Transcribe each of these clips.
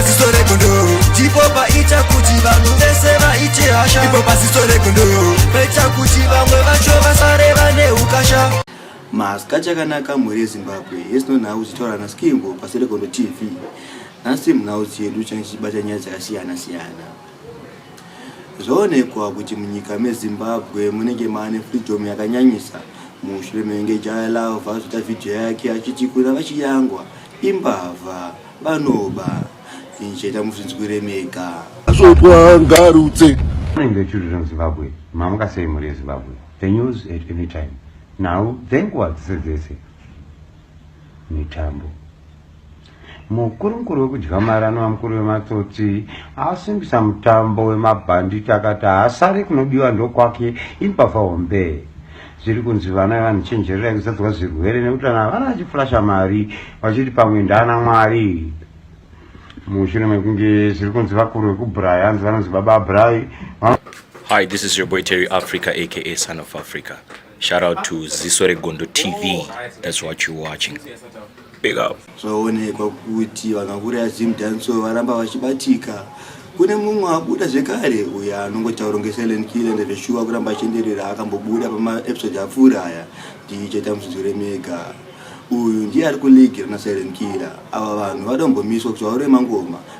paziso regondo ndipo paita kuti vanhu vese vaite hasha ipo paziso regondo paita kuti vamwe vacho vasare vane ukasha maska chakanaka mhuri yezimbabwe yesinonhau uchitaura naskimbo pasi regondo tv nhasi munhausi yedu change chichibata nyaya dzakasiyana siyana zvoonekwa kuti munyika mezimbabwe munenge maane freedom yakanyanyisa mushure mevenge jaya lava zvota vhidhiyo yake achiti kuna vachiyangwa imbavha Vanoba injeta muzvinzwire mega. Zvotwa ngarutse. Morning the children of Zimbabwe. Mamuka sei mhuri yeZimbabwe. The news at any time. Nhau dzenguva dzese dzese. Mitambo. Mukuru mukuru wekudya mari anova mukuru wematsotsi asimbisa mutambo wemabhanditi akati haasari kunodiwa ndokwake imbavha hombe. zviri kunzi vana vanhu chenjererai kuzadzwa zvirwere nekuti vana vana vachifurasha mari vachiti pamwe ndana mwari mushure mekunge zviri kunzi vakuru vekubrai hanzi vanonzi baba brai hi this is your boy terry africa aka son of africa shout out to ziso regondo tv that's what you're watching Big up. Zvaonekwa kuti vanakuru ya Zim Danso varamba vachibatika. Kune mumwe abuda zvekare uyo anongotaura kunge silent killer ende zveshuwa kuramba achienderera akambobuda pamaepisode apfuura aya DJ Tamuzvizure Mega. Uyu ndiye ari kuligi rana silent killer. Ava vanhu vada kumbomiswa kuti vaure mangoma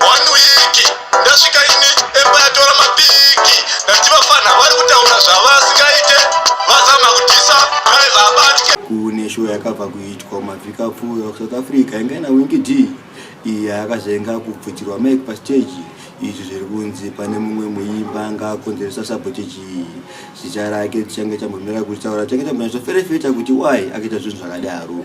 One week ndasvika ini emba yatora mapiki ndachivafanha vari kutaura zvavasingaite vazama kudisa drive abatye kune show yakabva kuitwa mavhiki apfuura kusouth africa inga ina winki d iyi yakazoinga kubvutirwa mike pastage izvi zviri kunzi pane mumwe muimba anga akonzeresa sabotage iyi zita rake tichange tambomira kutaura tichange tambonatsoferefeta kuti why akaita zvinhu zvakadaro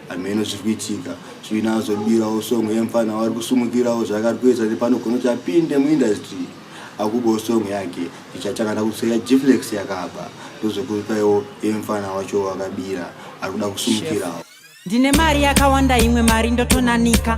hameno zviri kuitika zvinazobirawo song yemfana wari kusumukirawo zvaakari kuedza nepano gono kuti apinde muindustry akubawo song yake ichatangana kuseya gflex yakaba ndozokupaiwo yemfana wacho wakabira ari kuda kusumukirawo ndine mari yakawanda imwe mari ndotonanika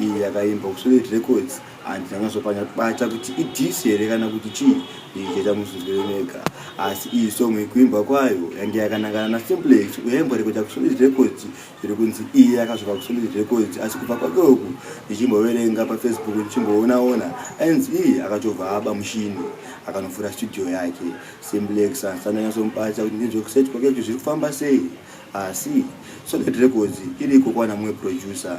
iyi yakaimbwa kusolid records and ndakazopanya kubata kuti idhisi here kana kuti chii ndichiita muzvizwiro mega asi iyi song ikuimbwa kwayo yange yakanangana nasimplex uyaimbwa rekuita kusolid records zviri kunzi iye yakazvika kusolid records asi kubva kwake uku ndichimboverenga pafacebook ndichimboonaona anz iye akatobva aba mushini akanovhura studio yake simplex ansandanyasomubatsa kuti ndinzwe kuset kwake kuti zviri kufamba sei asi solid records iriko kwana mumwe producer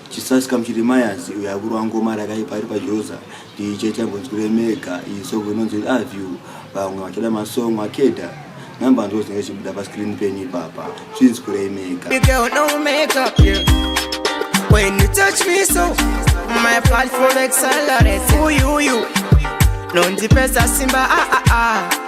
Chisasika muchirimayazi uyo akurwa ngoma rakaipa ari pajoza ndiiche chambonzwire mega iyi song inonzi love you vamwe vachada masong akeda number ndo zinenge chibuda pascreen penyu ipapa chinzwirei mega When you touch me so, my platform accelerates. Ooh, you, you. Nondipesa simba, ah, ah, ah.